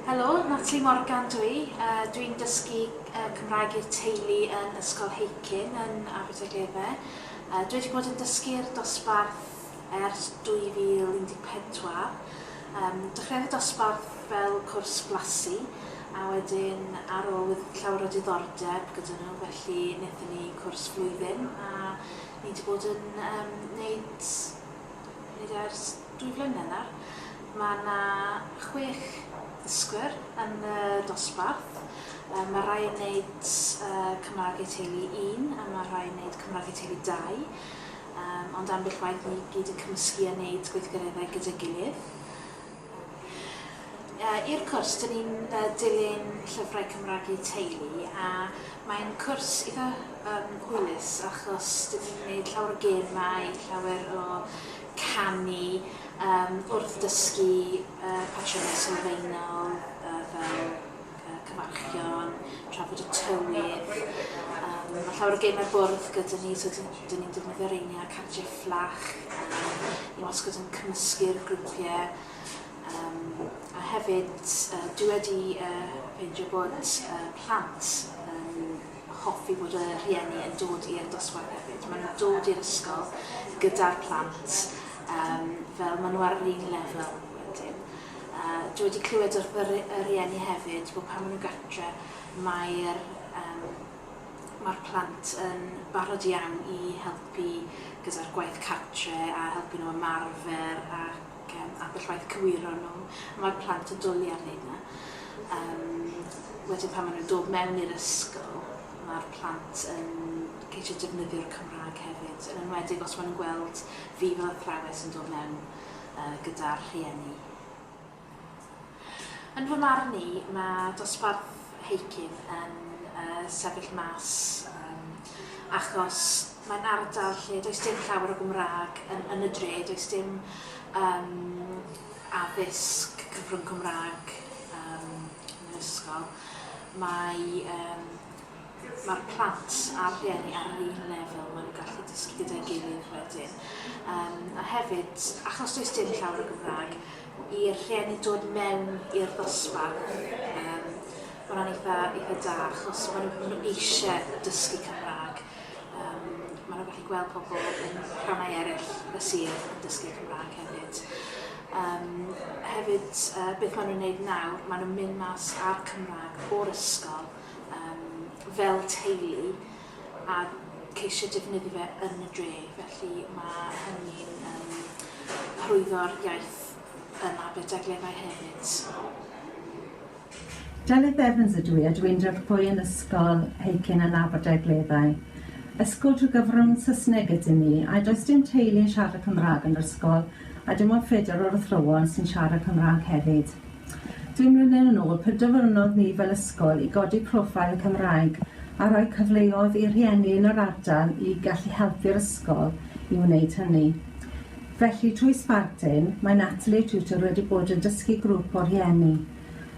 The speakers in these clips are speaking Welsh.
Helo, Natalie Morgan dw i. Dwi'n dysgu Cymraeg i'r Teulu yn Ysgol Heicyn yn Aberdaugleddau. Dwi wedi bod yn dysgu'r dosbarth ers 2014. Dechreuodd y dosbarth fel cwrs blasu a wedyn ar ôl oedd llawer o diddordeb gyda nhw felly wnaethon ni cwrs flwyddyn a ni 'di bod yn gwneud Hyd ers dwy flynedd nawr, mae yna chwech ddysgwr yn y dosbarth. Yy ma' rai yn neud yy Cymraeg eu teulu un a ma' rhai yn neud Cymraeg eu teulu dau. Yym ond ambell waith ni gyd yn cymysgu a neud gweithgareddau gyda'i gilydd. I'r cwrs, dyn ni'n dilyn llyfrau Cymraeg i teulu a mae'n cwrs eitha yym hwylus achos dyn ni'n neud llawer o gemau, llawer o canu yym wrth dysgu yy patrymau sylfaenol yy fel y cyfarchion, trafod y tywydd, yym ma' llawer o gemau'r bwrdd gyda ni so dyn dyn ni'n defnyddio reini a cardiau fflach yym i wasgod yn cymysgu'r grwpie yym a hefyd yy dwi wedi yy ffeindio bod yy plant yn hoffi bod y rhieni yn dod i'r dosbarth hefyd ma' nw'n dod i'r ysgol gyda'r plant yym fel ma' nw ar yr un lefel wedyn. Dwi wedi clywed o'r by y rieni hefyd bod pan ma' nhw gatre mae'r yym ma'r plant yn barod iawn i helpu gyda'r gwaith cartre a helpu nhw ymarfer ac yym ambell waith cywiro nhw. Mae'r plant yn dwli ar hynna. Yym wedyn pan ma' nhw'n dod mewn i'r ysgol ma'r plant yn ceisio defnyddio'r Cymra'g hefyd yn enwedig os ma' nhw'n gweld fi fel athrawes yn dod mewn gyda'r rhieni. Yn fy marn i, mae dosbarth Heicyn yn sefyll mas achos mae'n ardal lle does dim llawer o Gymraeg yn y dre, does dim addysg cyfrwng Cymraeg yn yr ysgol. Mae Mae'r plant a'r rhieni ar yr un lefel, maen nhw'n gallu dysgu gyda'i gilydd wedyn. Yym, a hefyd, achos does dim llawer o Gymraeg, i'r rhieni dod mewn i'r ddosbarth, yym, mae hwnna'n eitha, eitha da, achos maen nhw, maen nhw eisiau dysgu Cymraeg. Um, maen nhw'n gallu gweld pobl yn rhannau eraill y sir yn dysgu Cymraeg hefyd. Um, hefyd, uh, beth maen nhw'n gwneud nawr, maen nhw'n mynd mas â'r Cymraeg o'r ysgol yym fel teulu a ceisio defnyddio fe yn y dre felly ma' hynny'n yym hyrwyddo'r iaith yn Aberdaugleddau hefyd. Delyth Evans ydw i a dw i'n dirprwy yn Ysgol Heikin yn Aberdaugleddau. Ysgol trwy gyfrwng Saesneg ydyn ni a does dim teulu yn siarad Cymraeg yn yr ysgol a dim ond phedair o'r athrawon sy'n siarad Cymraeg hefyd. Ddwy mlynedd yn ôl, pe dyfynnodd ni fel ysgol i godi profile y Cymraeg a rhoi cyfleodd i rhieni yn yr ardal i gallu helpu'r ysgol i wneud hynny. Felly, trwy Sparkdin, mae Natalie Tutor wedi bod yn dysgu grwp o rhieni.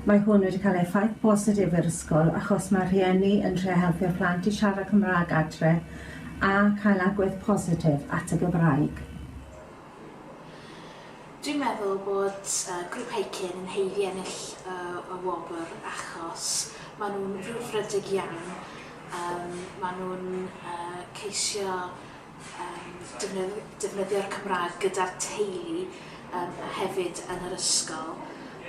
Mae hwn wedi cael effaith bositif i'r ysgol achos mae rhieni yn trio helpu'r plant i siarad Cymraeg adre a cael agwedd positif at y Gymraeg. Dwi'n meddwl bod yy Grŵp Heikin yn haeddu ennill y y wobr achos ma' nhw'n frwdfrydig iawn, yym ma' nhw'n yy ceisio yym defnydd- defnyddio'r Cymraeg gyda'r teulu yym a hefyd yn yr ysgol,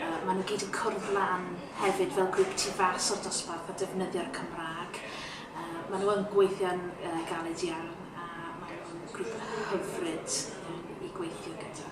yy ma' nhw gyd yn cwrdd lan hefyd fel grŵp tu fas o'r dosbarth a defnyddio'r Cymraeg. Maen nhw yn gweithio'n galed iawn a maen nhw'n grŵp hyfryd i gweithio gyda.